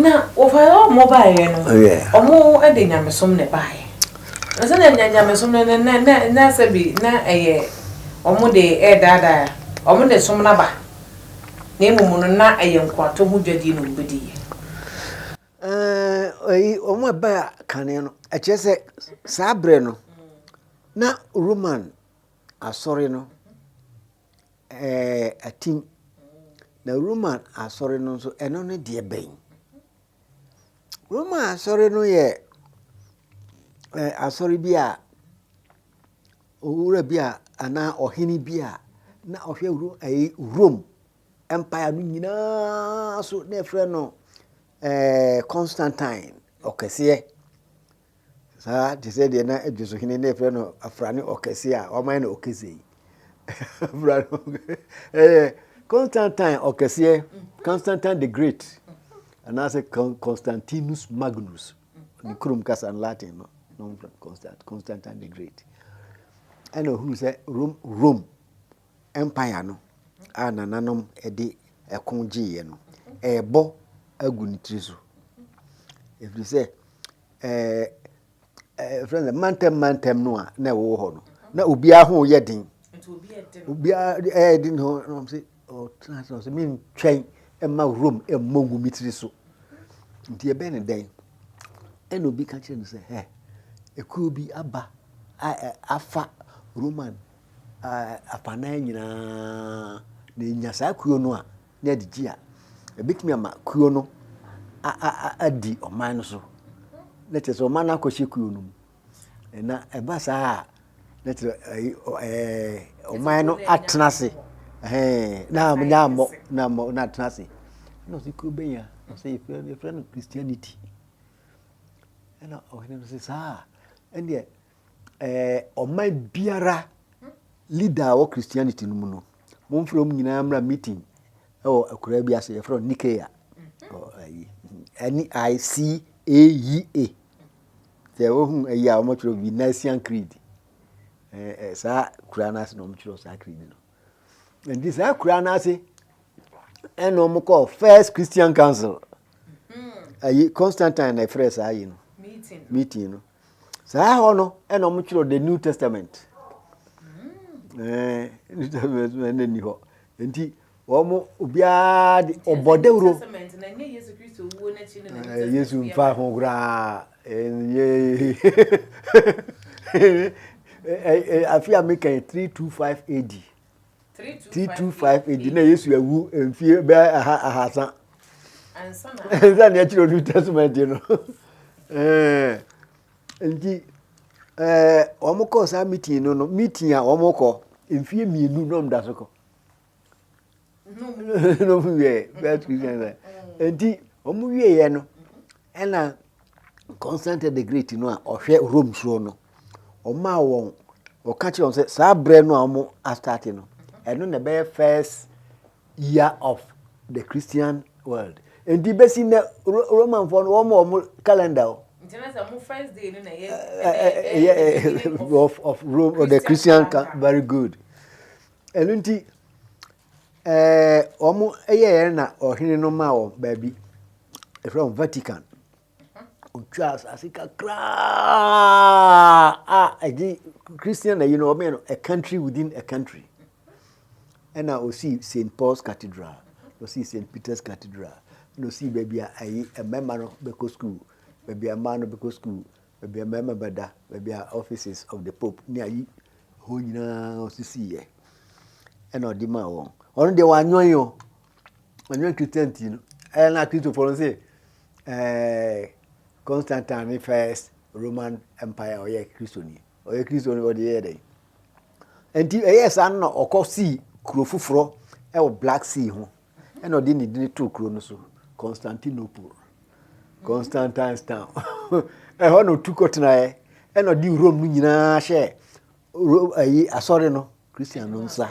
Na wɔfaeɛ a wɔn baeɛ no, wɔn de nyamesom na ɛbaeɛ. Na sɛdeɛ nya nyamesom no na na na na sɛbi na ɛyɛ wɔn de ɛredaadaa wɔn de som no aba, na mmom no na ɛyɛ nkoato ho dwadie na wɔbɛdiiɛ. Ɛɛ ɛyi wɔn a ɛbaa kane no, ɛkyerɛ sɛ saa berɛ no na Roman asɔre no ɛɛ atim. Na Roman asɔre no nso, ɛno ne deɛ bɛn? Roman asɔre no yɛ ɛɛ asɔre bi a owura bi a anaa ɔhene bi a na ɔhwɛ ro ɛyi Rome empire no nyinaa so na ɛfrɛ no ɛɛ Constantine ɔkɛseɛ. Saa te sɛ deɛ na Adwoso hene na ɛfrɛ no Afrane Ɔkɛse a wɔamayɛ no Ɔkɛse yi. Afrane Ɔkɛse ɛyɛ Constantine Ɔkɛseɛ, Constantine the Great, anaasɛ Constantinus Magnus, ne kurom kasa no Latin no, Constantine the Great. Ɛna ɔhunu sɛ Rome, Rome mpae ano a nananom de ko gyeeɛ no, ɛrebɔ agu ne tiri so. Ɛfiri sɛ, ɛfrɛ no sɛ mantam mantam no a na ɛwɔ hɔ no, na obiara ho yɛ den. Obiara ɛyɛ den ho na wɔn sɛ ɔtena ase na ɔsɛ mentwɛn mma Rome mmɔ ngu me tiri so. Nti ɛbɛn ne dɛn? Ɛna obi ka kyerɛ no sɛ, hɛ, ekuo bi aba a afa Roman afanan nyinaa na enya saa kuo no a, na ɛde gye a, ɛbɛtumi ama kuo no adi ɔman no so. Na kyerɛ sɛ ɔman no akɔhyɛ kuo no mu. Na ɛba saa a, na kyerɛ ɔman no atena ase. Na ammɔ na ammɔ na atena ase. Na ɔsɛ kuo bɛn a? Ɔsɛ yɛfrɛ no Christianity. Ɛna ɔhene no sɛ saa a, ɛnneɛ ɛɛ ɔman biara leader a ɔwɔ christianity no mu no momfrɛ wɔn nyinaa mmra meeting ɛwɔ akuraa bi ase yɛfrɛ no nikea ɛne i c a yi a sɛ wohu ayi a wɔtwerɛ bi nasian creed ɛɛ saa kuraa no ase na wɔtwerɛ saa creed no nti saa kuraa no ase ɛna wɔn kɔɔ first christian council ayi constantine na ɛfrɛ saa yi no meeting no Saa hɔ no ɛna wɔn twerɛ the new testament ɛɛ new testament na ɛna ni hɔ nti wɔn obiara de ɔbɔ dawuro ɛɛ yesu nfa ho koraa ɛnyɛ ɛɛ afi a mi kɛn three two five ad. 325 AD na Yesu awu mfie bɛyɛ aha ahasa ansa na ɛkyerɛ New Testament no eh, nti eh, wɔn kɔ saa meeting no no meeting a wɔn kɔ mfie mmienu na wɔn da so kɔ na wɔn wiɛ bɛyɛ two thousand nti wɔn wiɛ yɛ no ɛna. Constantine the Great no a ɔhwɛ Rome soɔ no ɔmaa wɔn ɔka kyerɛ wɔn sɛ saa berɛ no a wɔn astate no ɛno na ɛbɛyɛ first year of the Christian world nti bɛsi nnɛ Romanfoɔ no wɔn wɔn calendar o. nti na sɛ mo first day no na ɛyɛ ɛyɛ of of Rome or the Christian very good ɛno nti. Ɛɛ, wɔyɛɛ na ɔhene no maa wɔn baabi ɛfrɛ no Vatican. Ɔtwaa asase kakraa a ɛgye Christian na yi no wɔbɛn no a country within a country. Ɛna ɔsii St. Paul's Cathedral, ɔsii St. Peter's Cathedral, na ɔsii baabi a ɛyi mmarima no bɛkɔ sukuu, baabi a mmaa no bɛkɔ sukuu, baabi a mmarima bɛda, baabi a offices of the Pope ne ayi hɔ nyinaa osisiiɛ ɛna ɔde maa wɔn. Ɔno deɛ wanyɔn o, wanyɔn Christian ti no. Ɛyɛ na Kristofoɔ no sɛ ɛɛ Constantine ne first Roman Empire ɔyɛ Kristoni, ɔyɛ Kristoni ɔde yɛ dɛ. Nti ɛyɛ saa na ɔkɔ sii kuro foforɔ ɛwɔ Black Sea ho Ɛnna ɔde ne din too kuro no so Constantinople, Constantinestown. Ɛhɔ na ɔtu kɔtenaeɛ. Ɛnna ɔde Rome no nyinaa hyɛɛ Rome ayi asɔre no Christian no nsa.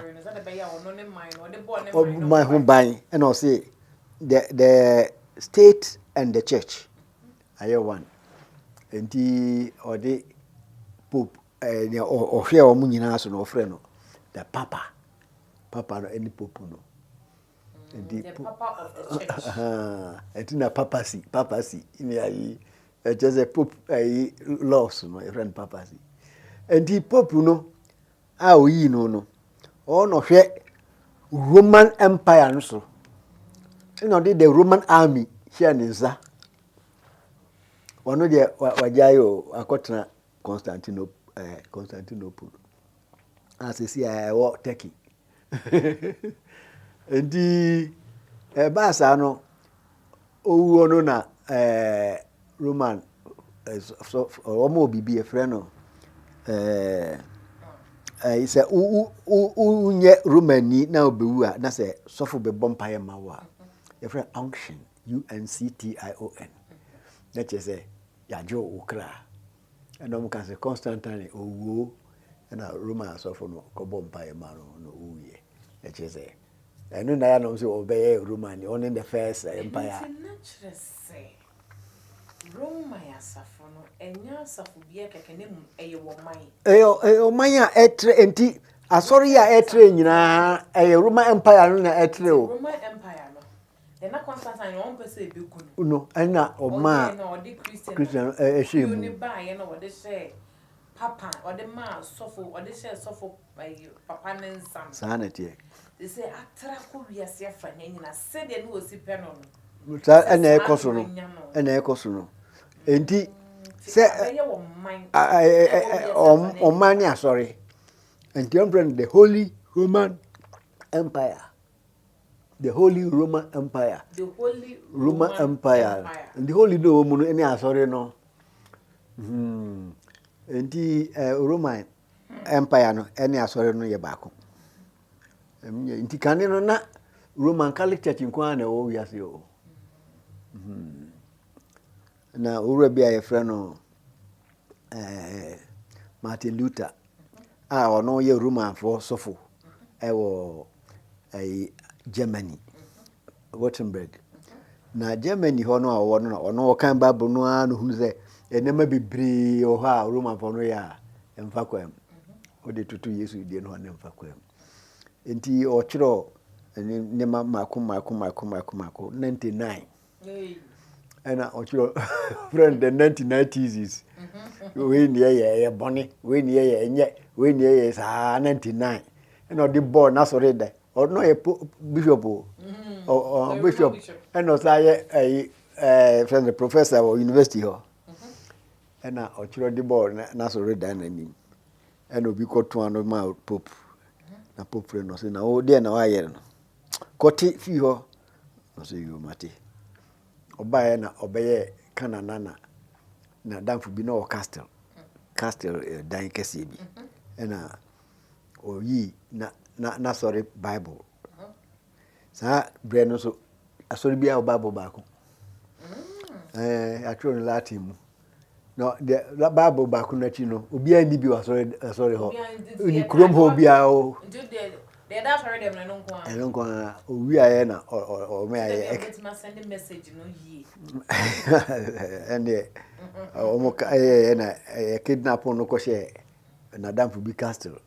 Ɔman ho ban ɛnna ɔse the the state and the church ayɛ one. Nti ɔde pope Ɛɛ nea ɔhwɛɛ wɔn nyinaa so no, ɔfrɛ no the papa. Papa no ɛne popu no. Nti po ɛti na papacy papacy ne ayi ɛkyɛ sɛ pope ayi laws no ɛfrɛ no papacy. Nti popu no a oyii no no ɔwɔ na ɔhwɛ Roman Empire no so ɛna ɔde the Roman army hyɛ ne nsa. Ɔno deɛ wagyae o akɔtena Constantinople a seesei a ɛwɔ Turkey. Nti ɛbaa saa no owuo no na eh, Roman eh, so, wɔn wɔ biribi ɛfrɛ no eh, eh, sɛ wonyɛ Romani na wobɛwu a na sɛ sɔfo bɛbɔ mpaeɛ ma wo a yɛfrɛ unction unction na kyerɛ sɛ Yɛagye wo kra. Ɛnna wɔka sɛ, Constantine, ɔwuo! Ɛnna Roma asɔfo no kɔbɔɔ mpaeɛ maa no na ɔwuiɛ. Ɛkyerɛ sɛ, ɛno na ɛyɛ na wɔn sɛ wɔbɛyɛ Romani, ɔno ne the first eh, empire. Ɛno nti na kyerɛ sɛ, Roma yɛ asafo no, ɛnyɛ asafobea kɛkɛ, na mmom ɛyɛ ɔman. Ɛyɛ, ɛyɛ ɔman a ɛtrɛ, enti asɔre a ɛtrɛ nyinaa, ɛyɛ Roma Empire no na ɛtrɛ o. Roma Empire no. No na ɔmaa Christian no hyɛɛ mu. Saa na ɛteɛ. Saa ɛna ɛkɔ so no, ɛna ɛkɔ so no. Enti sɛ ɔman ne asɔre, nti wɔn frɛ no the holy Roman empire. The Holy Roman Empire. The Holy Roman, Roman Empire. Empire. The Holy no wɔn mu no ɛne asɔre no. Hmm. Nti eh, Roman Empire no ɛne asɔre no yɛ baako. Nti kane no na Roman Catholic Church nko ara na ɛwɔ wiase o. Hmm. Na owura bi a yɛfrɛ no eh, Martin Luther a ɔno yɛ Romanfoɔ sɔfo wɔ eh, Germany, Wittenberg. Na Germany hɔ no a ɔwɔ no na ɔno ɔkan Bible no ara na ohunu sɛ nneɛma bebree wɔ hɔ a Romanfoɔ no yɛ a ɛmfa kwan mu. Wode toto Yesu deɛ no a na ɛmfa kwan mu. Nti ɔtwerɛ nneɛma mako mako mako mako mako 99 ɛna ɔkyerɛ frɛ no the ninety nine thesis wei ne ɛyɛ ɛyɛ bɔne wei ne ɛyɛ ɛnyɛ wei ne ɛyɛ saa ninety nine ɛna ɔde bɔɔ n'asɔre dɛ ɔno ɔyɛ bishop o ɔ bishop ɛna ɔsan yɛ ɛyi ɛɛ frɛ no professor wɔ university hɔ ɛna ɔkyerɛ ɔde bɔɔ n'asɔre dɛ n'anim ɛna obi kɔ to ano ma pope na pope frɛ no ɔsɛ na ɔdeɛ na wayɛ no kɔte fii hɔ. Ɔse yoo mate. Ɔbaeɛ na ɔbɛyɛɛ Canaan na na n'adamfo bi na ɔwɔ castle castle eh, dan kɛseɛ bi ɛna ɔyii na na n'asɔre bible saa berɛ no nso asɔre biara wɔ bible baako ɛɛ atwerɛ no latin mu Na deɛ Bible baako no akyi no, obiara nni bi wɔ asɔre asɔre hɔ. Obiara nni deɛ Nni kurom hɔ obiara o. Nti wo deɛ deɛ ɛda asɔre dɛm no ɛno nko ara. Ɛno nko ara owiaeɛ na ɔ ɔ ɔmo ayɛ. Sɛdeɛ wobɛtumi asɛnde message no yie. Ɛndeɛ ɔmo ka ɛyɛɛyɛ na ɛyɛ kidnap no kɔhyɛɛ n'adamfo bi castle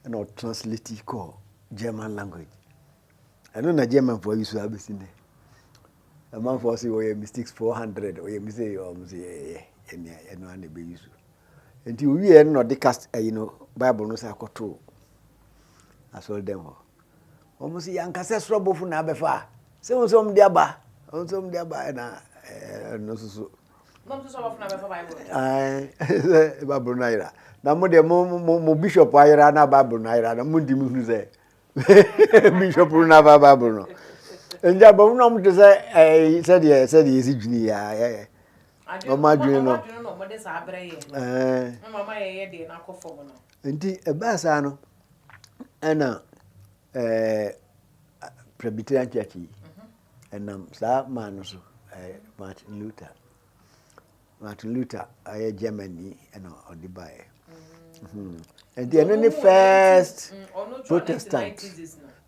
ɛna ɔ translate kɔɔ German language. Ɛno na Germanfoɔ ayusu abɛsi nnɛ. Amanfoɔ se wɔyɛ mistakes 400 wɔyɛ mistake yɛ wɔn se yɛyɛ ɛnea ɛno ara na ɛbɛ use nti owieɛ no na ɔde cast ayi no bible no sɛ akɔto asɔre dɛm hɔ wɔn se yankasɛ soro bɔfo na abɛfa a sɛ wɔn sɛ wɔn de aba wɔn sɛ wɔn de aba ɛna ɛno nso so bible no ayera na mo deɛ mo mo mo bishop ayera na bible no ayera na mo di mo hunu sɛ bishop no n'aba bible no nti abɔfo na wɔn te sɛ ɛɛ sɛdeɛ sɛdeɛ yɛsi dwene yɛ ayɛ yɛ wɔn adwene no ɛɛ nti ɛbaa saa no ɛna ɛɛ presbyterian church yi ɛnam saa maa no so ɛɛ martin luther Martin Luther a ɔyɛ Germany na ɔde baeɛ. Mhm. Nti ɛno ne first Protestant.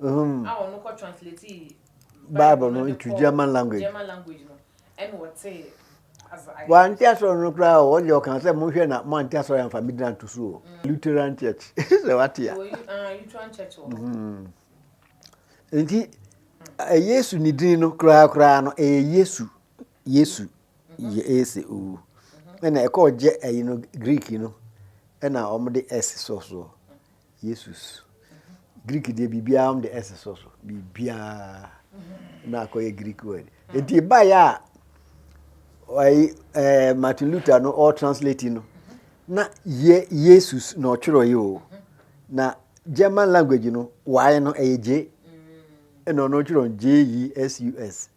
Mhm. Bible no into German language. Wante asɔre no koraa o, ɔde ɔka sɛ monhwɛ na moante asɔre amfa me dina nto so o. Mm. Lutheran Church. Sɛ wate a. Ah, Lutheran Church wɔ. Mhm. Nti Yesu ne din no koraa koraa no ɛyɛ Yesu. Yesu yɛ ese owu. Ɛna ɛkɔɔ gyɛ ɛyi no Greek no ɛna wɔn de ɛse sɔ soɔ. Yesus. Greek deɛ biribiara wɔn de ɛse sɔ so. Biribiara na akɔyɛ Greek word. Eti baayɛ a ɛyi ɛɛ eh, Martin Luther no ɔɔ translate no na yɛ Yesus na ɔtwerɛ yi o. Na German language no wae no ɛyɛ J. Ɛna ɔno ɔtwerɛ J E S U S.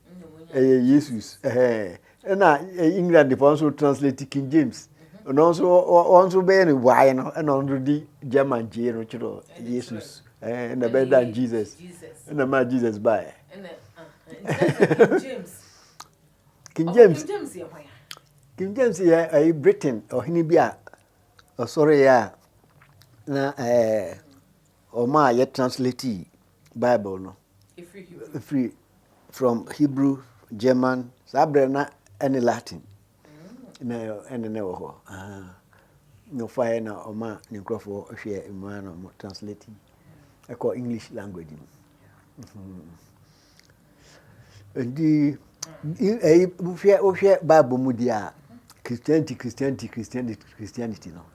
ɛyɛ yesus ɛna england fɔ nso translate king james ɔno nso wɔn nso bɛyɛ no wae no ɛna ɔno di german gye no kyerɛ yesus ɛna bɛyɛ da jesus ɛna ma jesus bae king james king james yɛ ɛyɛ britain ɔhene bi a ɔsɔre yɛ a na ɛɛ ɔmo a yɛ translate Bible no firi from Hebrew, German, saa berɛ na ɛne Latin na ɛne na ɛwɔ hɔ. Na ɔfaeɛ na ɔma ne nkurɔfoɔ hwɛ mmaa na ɔmo translate ɛkɔ English language mu. Nti ɛyi wohwɛ wohwɛ Bible mu di a Christianity Christianity Christianity Christianity no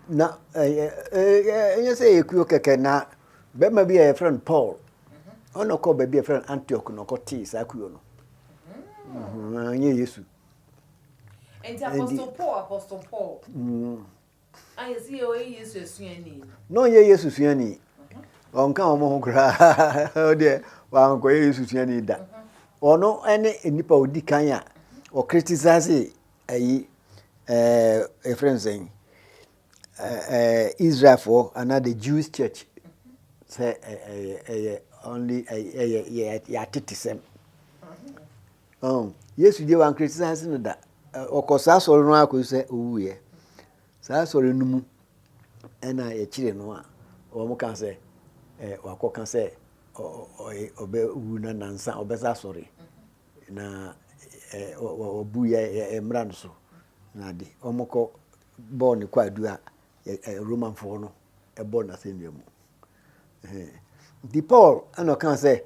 na ɛyɛ ɛyɛ ɛyɛ sɛ ɛyɛ kuo kɛkɛ na Barima bi a yɛfrɛ no Paul, ɔna ɔkɔɔ baabi a yɛfrɛ no Antioch na ɔkɔtee saa kuo no. Ɛnyɛ mm. Yesu. Nti Apostle Paul, Apostle Paul. Mm. Ayɛ sɛ yɛ ɔyɛ Yesu asuani. Na ɔnyɛ Yesu suani. Ɔnka wɔn ho koraa. Ɔdeɛ wankɔyɛ Yesu suani da. Ɔno ne nipa odi kan a ɔkritisase ayi ɛɛ efrɛ nsɛn Israelfoɔ anaa the Jewish church sɛ ɛyɛ only ɛyɛ yɛatetesɛm Yesu deɛ wankritisize no da ɔkɔ saa asɔre no ara kɔsi sɛ ɔwuiɛ saa asɔre no mu ɛna yɛkyere no a wɔka sɛ wakɔka sɛ ɔbɛwu na nansa ɔbɛsa asɔre na wɔbu yɛ mmara no so na de wɔkɔ bɔɔ no kwaadu a Romanfoɔ no bɔ n'asɛnnua mu. Nti Paul na ɔkaa sɛ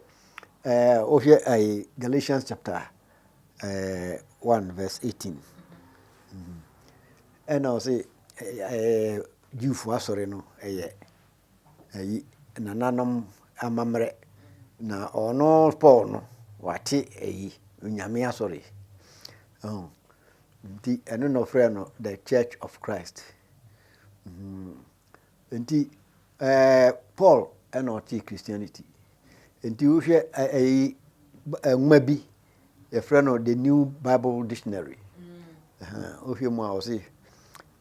wohwɛ Galatians chapter 1 verse 18 ɛna ɔse Jewfoɔ asɔre no yɛ ayi nananom amammerɛ, na ɔno Paul no, wate ayi, Onyame asɔre. Ɔho, nti ɛno na ɔfrɛ no The Church of Christ. Nti, ɛɛ Paul ɛna ɔte Christianity. Nti wohwɛ ɛyi nwoma bi, yɛfrɛ no The New Bible Dictionary. Wohwɛ mu a ɔse,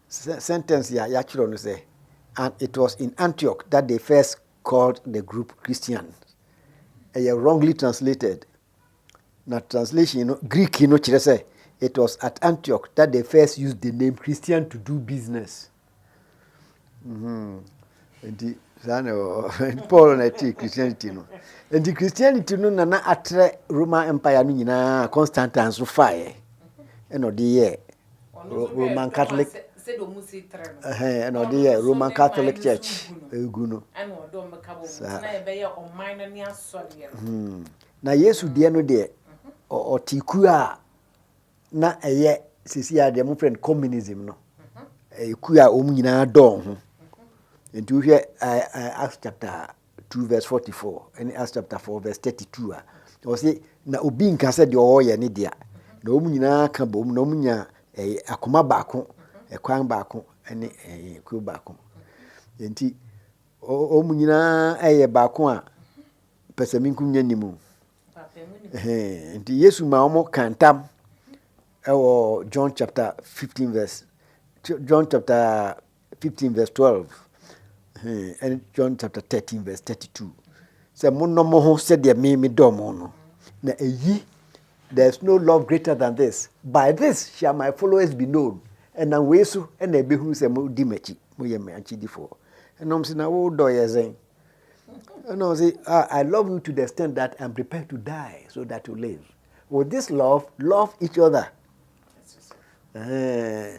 Sɛ sɛntɛnse a yɛakyerɛw no sɛ, And it was in Antioch that they first called the group Christians. Ɛyɛ wrongly translated. Na translation no, Greek no kyerɛ sɛ, It was at Antioch that they first used the name Christian to do business. Mm-hmm. nti saa na paul na ɛte christianity no nti christianity no nana atrɛ roman empire no nyinaa constantine nso faeɛ ɛna ɔde yɛɛ roman catholic ɛna ɔde yɛ roman catholic church egu no saa hmm. na yesu deɛ no deɛ ɔte kuo a na ɛyɛ sisi a deɛ mo fɛ no communism no ɛyɛ kuo a wɔn nyinaa dɔɔ ho nti wohwɛ acts chapter 2 vs 44 ɛne Acts chapter 4 vs 32 a ɔwɔ se na obi nka sɛ deɛ ɔwɔ yɛ ne dea na wɔn nyinaa ka bom na wɔn nya ɛyɛ akoma baako ɛkwan baako ɛne ɛyɛ kuo baako nti wɔn nyinaa ɛyɛ baako a pɛsɛminkum nyɛ ne mu nti Yesu ma wɔn kantam ɛwɔ John chapter 15 vs John chapter 15 vs 12 ɛne John chapter 13 vs 32 sɛ monnɔ mo ho sɛdeɛ me medɔ mo no na ɛyi there is no love greater than this by this shall my followers be known ɛnam wei so ɛna ɛbɛhunu sɛ modi m'akyi moyɛ me akyidifoɔ ɛnom se na wodɔ yɛ sɛn ɛnom se ah, I love you to the extent that I'm prepared to die so that you live with this love love each other uh,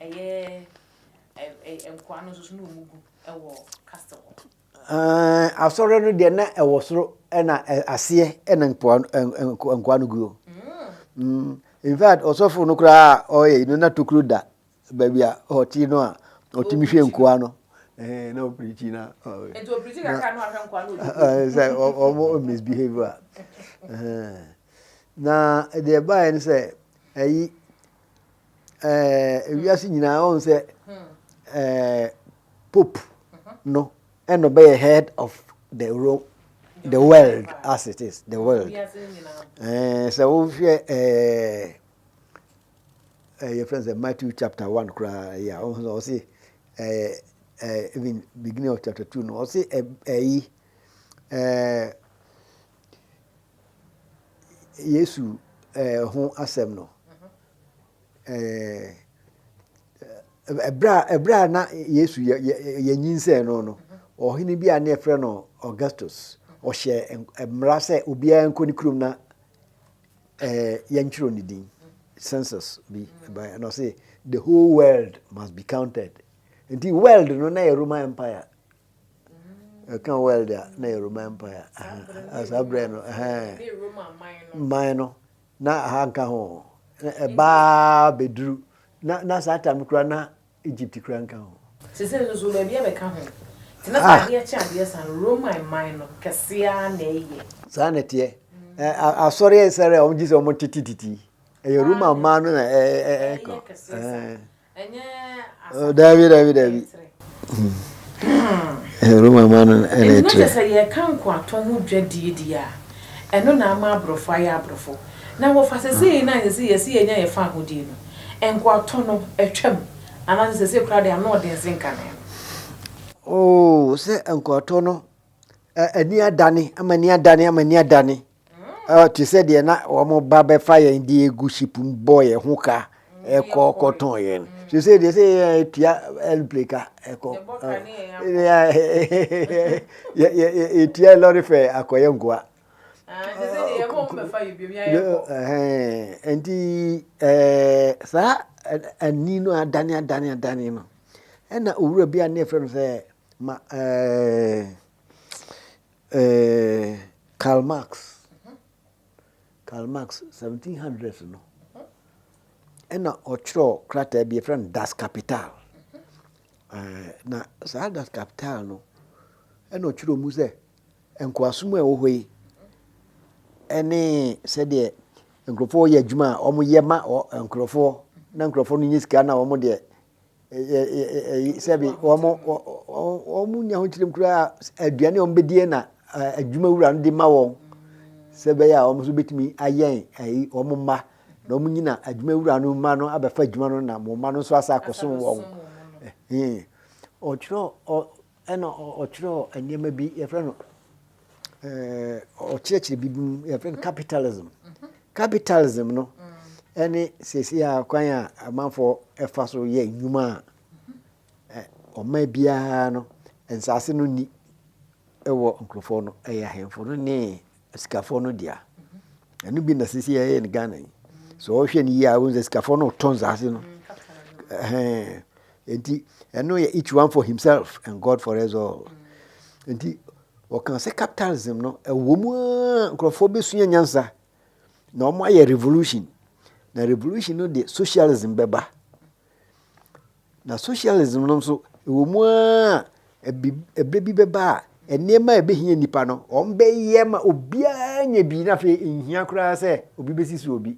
Ɛyɛ ɛ-ɛ-ɛ nkoa no nso so na wɔn gu wɔ castle hɔ. Ɛɛ asɔre no deɛ na ɛwɔ soro ɛna ɛ aseɛ ɛna nkoa no ɛ ɛ nkoa no gu. Mm. In fact ɔsɔfo no koraa ɔyɛ no na tokuro da baabi a ɔte no a ɔtumi hwɛ nkoa no. Ɛɛ na ɔpirikyi na. Nti ɔpirikyi kakra na ɔhwɛ nkoa no. Ɛɛ sɛ ɔmo misbehave a. Ɛɛ na deɛ ɛbaeɛ no sɛ ɛyi. ɛɛ wiase nyinaa ɔn sɛ ɛɛ pope no ɛna ɔbɛyɛ head of the rome the world as it is the world ɛɛ sɛ wohwɛ ɛɛ ɛɛ yɛfrɛ sɛ matthew chapter one koraa yɛ a ɔn sɛ ɔsi ɛɛ ɛɛ even beginning of chapter two no ɔsi ɛyi ɛɛ. Yesu ho asɛm no, ɛberɛ a na Yesu yɛnyinsɛn no no, ɔhene bi a ne yɛfrɛ no Augustus, ɔhyɛ mmara sɛ obiara nkɔ ne kurom na yɛntwerɛ ne din. Census bi baeɛ na ɔse the whole world must be counted. Nti world no na yɛ Roman Empire ɛka world a na yɛ roman empire saa berɛ no man no na aha nka ho ɛbaa bɛduru na saa tam kora na egypt kora nka ho sesei nso so baabi abɛka ho nti na saa adeɛ kye adeɛ saa no roman man no kɛseɛ na ɛyɛ saa na ɛteɛ asɔre ɛsɛre a wɔn gye sɛ wɔn tete titi ɛyɛ roman man no na ɛka daabi daabi daabi roma ma no ɛna ɛkyerɛ sɛ yɛka nkoatɔ ho dwadie di a ɛno na ama aborɔfo ayɛ aborɔfo na wɔfa sɛ sɛ na sɛ sɛ yɛsi yɛnya yɛfa ahodie no nkoatɔ no atwam anaasɛ sɛ sɛ kura de ano ɔden se nka ne oo sɛ nkoatɔ no ani adane ama ni adane ama ni adane te sɛ deɛ na wɔn ba bɛfa yɛn de egu ship mu bɔ yɛn ho ka ɛkɔ kɔtɔn yɛn so sɛ deɛ sɛ yɛn etua airplane ka ɛkɔ etua lɔri fɛ akɔyɛ nkoa nti ɛɛ saa ani no adane adane adane no ɛna owura bi a ne yɛfrɛ no sɛ ma ɛɛ. Eeh Karl Marx, Karl Marx seventeen hundreds no ɛna ɔtwerɛɛ krataa bi yɛfrɛ no Das Kapital, na saa Das Kapital no ɛna ɔtwerɛɛ mu sɛ nkoasom a ɛwɔ hɔ yi ɛne sɛdeɛ nkorɔfoɔ yɛ adwuma a wɔyɛ ma nkorɔfoɔ na nkorɔfoɔ no nya sika na wɔn deɛ sɛbi wɔn wɔn wɔn nya ho kyerɛm koraa aduane a wɔn bɛdie na adwuma wura no de ma wɔn sɛ bɛyɛ a wɔn nso bɛtumi ayɛn ayi wɔn mma na wɔn nyina adwuma wura no mma no abɛfa adwuma no na wɔn mma no nso asa akɔsom wɔn ɔtwerɛ ɔ. Ɛna ɔtwerɛɛ nneɛma bi, yɛfrɛ no, ɔkyerɛkyerɛ biribi mu, yɛfrɛ no capitalism. Capitalism no ne seesei a kwan a amanfoɔ ɛfa so yɛ nnwuma a ɔman biara no, nsaase no nni wɔ nkurɔfoɔ no, ɛyɛ ahemfo no ne Asikafoɔ no dea. Ɛno bi na sisi yɛyɛ no Ghana yi. Sɛ ɔhwɛ no yie a, wɔn sɛ asikafoɔ no retɔ nsaase no. Ɛhɛn. Nti ɛno yɛ each one for himself and God for us all. Nti wɔka sɛ capitalism no ɛwɔ mu a nkurɔfoɔ bɛsua nyansa na wɔn ayɛ revolution na revolution no de socialism bɛba. Na socialism no nso, ɛwɔ mu ara a, ɛbi, ɛberɛ bi bɛba a, nneɛma a ɛbɛhia nnipa no, wɔbɛyɛ ma obiara nya bi, na afei nhia koraa sɛ obi bɛsi so obi.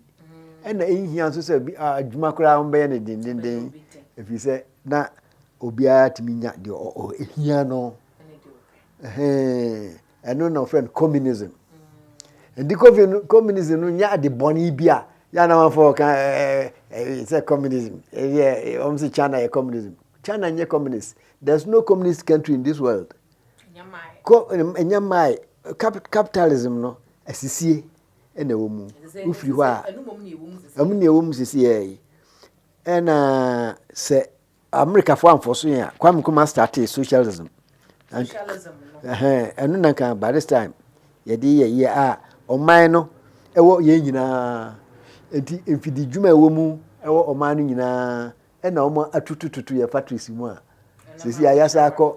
Ɛna nhia nso sɛ obi, a, adwuma koraa wɔbɛyɛ no dendenden, ɛfiri sɛ na obiara tumi nya deɛ ɔhia no. Ɛhɛn. Ɛno na wɔfrɛ no communism. Nti communism no nyɛ ade bɔne bi a yɛ anamafo ɔka sɛ communism ɛyɛ wɔn sɛ China yɛ communism. China nyɛ communist. There's no communist country in this world. Ɛnyɛ mmae. Capitalism no asisie na ɛwɔ mu. Wofiri hɔ a ɛmu na ɛwɔ mu sisi yɛ yi. Ɛna sɛ Amerikafoɔ amfɔso yɛn a Kwame Nkrumah startee socialism. Socialism no. Ɛhɛn, ɛno na nka by this time yɛde yɛ yɛ a ɔman no ɛwɔ yɛn nyinaa nti mfidi dwuma ɛwɔ mu ɛwɔ ɔman no nyinaa ɛna wɔn atutututu yɛ factories mu a sisi ayasa akɔ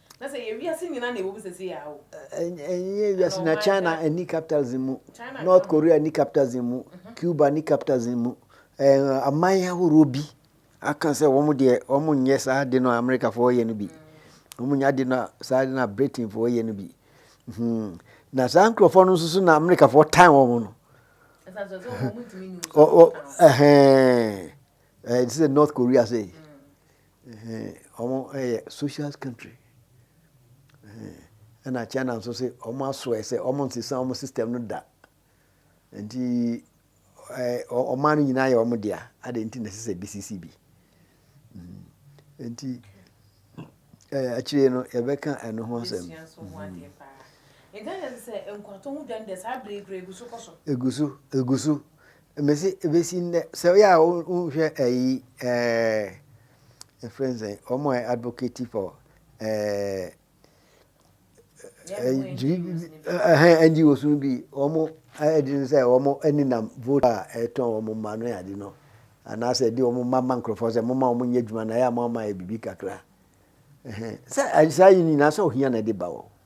Na sɛ ɛyɛ wiase nyinaa na ɛwɔ mu sɛsei a o. Ɛnyɛ wiase na China ni capitalism mu, North Korea ni capitalism mu, mhm. Cuba ni capitalism mu. Aman ahorow bi aka sɛ wɔn deɛ wɔn nyɛ saa de no a Amerikafoɔ yɛ no bi. Mm. Wɔn nyɛ de no saa de no a Britainfoɔ yɛ no bi. Hmm. Na saa nkurɔfoɔ no nso so na Amerikafoɔ tan wɔn no. Ɛsɛ sɛ North Korea sɛ. Mm. Ɔmo yɛ socialist country ɛna China nso se ɔmo asoɛ sɛ ɔmo nsesa ɔmo system no da nti ɔman no nyinaa yɛ ɔmo dea adɛn nti na ɛsɛ sɛ bi sisi bi nti akyire no yɛbɛka ɛno ho asɛm. Egu so egu so. Mese ɛbɛsi nnɛ sɛ woyɛ a wonhwɛ ayi ɛfrɛ n sɛ wɔn a advocate for NGOs no bi wɔn ɛde no sɛ wɔn aninam vote a ɛtɔn wɔn mma no yɛ ade no anaasɛ ɛde wɔn mma ma nkurɔfoɔ sɛ moma wɔn nyɛ adwuma na ɛyɛ a moma ma yɛ biribi kakra sɛ saa yi nyinaa sɛ ohia na ɛde ba wɔ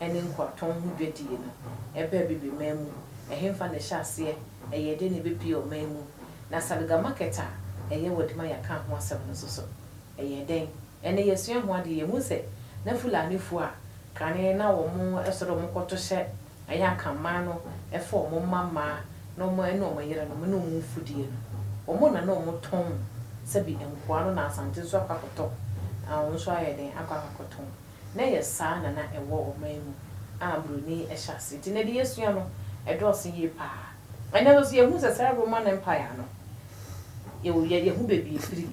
ne nkoatɔn ho dwadie no, ɛbaa Bibiman mu, ɛhefa na ɛhyɛ aseɛ, ɛyɛɛ dɛn na ɛbɛpuee ɔman mu, na Salga Market a ɛyɛ wɔ Dimaya kaa ho asɛm no nso so, ɛyɛɛ dɛn? Ɛnnɛ yɛasua ho adeɛ, yɛhu sɛ na Fulanifoɔ a kane na wɔsɔre wɔkɔto hyɛ ɛyɛ Akanman no fa wɔn mma mmaa ne wɔn yerenom ne wɔn mfudeɛ no, wɔn na na wɔtɔn sɛbi nkoa no na Asante nso akɔ akɔtɔ, wɔn nso ayɛ dɛn akɔ akɔtɔn. na ɛyɛ saa na na ɛwɔ ɔman mu a Buroni hyɛ ase nti na deɛ yɛsua no dɔɔso yie pa ara. Ɛnnɛ no nso yɛhu sɛ saa Roman Empire no, yɛwɔ bia, yɛhu baabi ɛfiri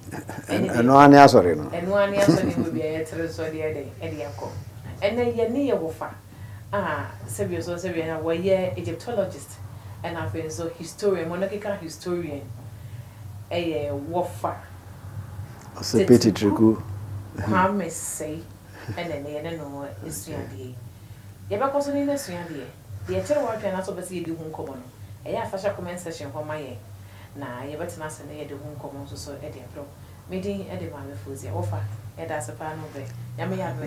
ɛne baabi. Ɛno ara ne asɔre no. Ɛno ara ne asɔre no baabi a yɛtere nso de ayɛ dɛn? De akɔ. Ɛnnɛ yɛn ne yɛ wɔfa a sɛbi nso sɛbi a wɔyɛ Egyptologist ɛna afei nso historian, monarchical historian. ɛyɛ wɔfa Teteku Kwame Sei ɛna ɛnɛ yɛne no ɛsua adeɛ yi. Yɛbɛkɔ so ne no asua adeɛ. Deɛ ɛkyere w'adwene anaasɛ wopɛ sɛ yɛdi ho nkɔmmɔ no, ɛyɛ a fa hyɛ comment section hɔ ma yɛn na yɛbɛtena ase na yɛde ho nkɔmmɔ nso so de abrɛ wo. Me din de Maame Fozia. Wɔfa, yɛda ase paa ne wo brɛ. Nyame yɛ adom a.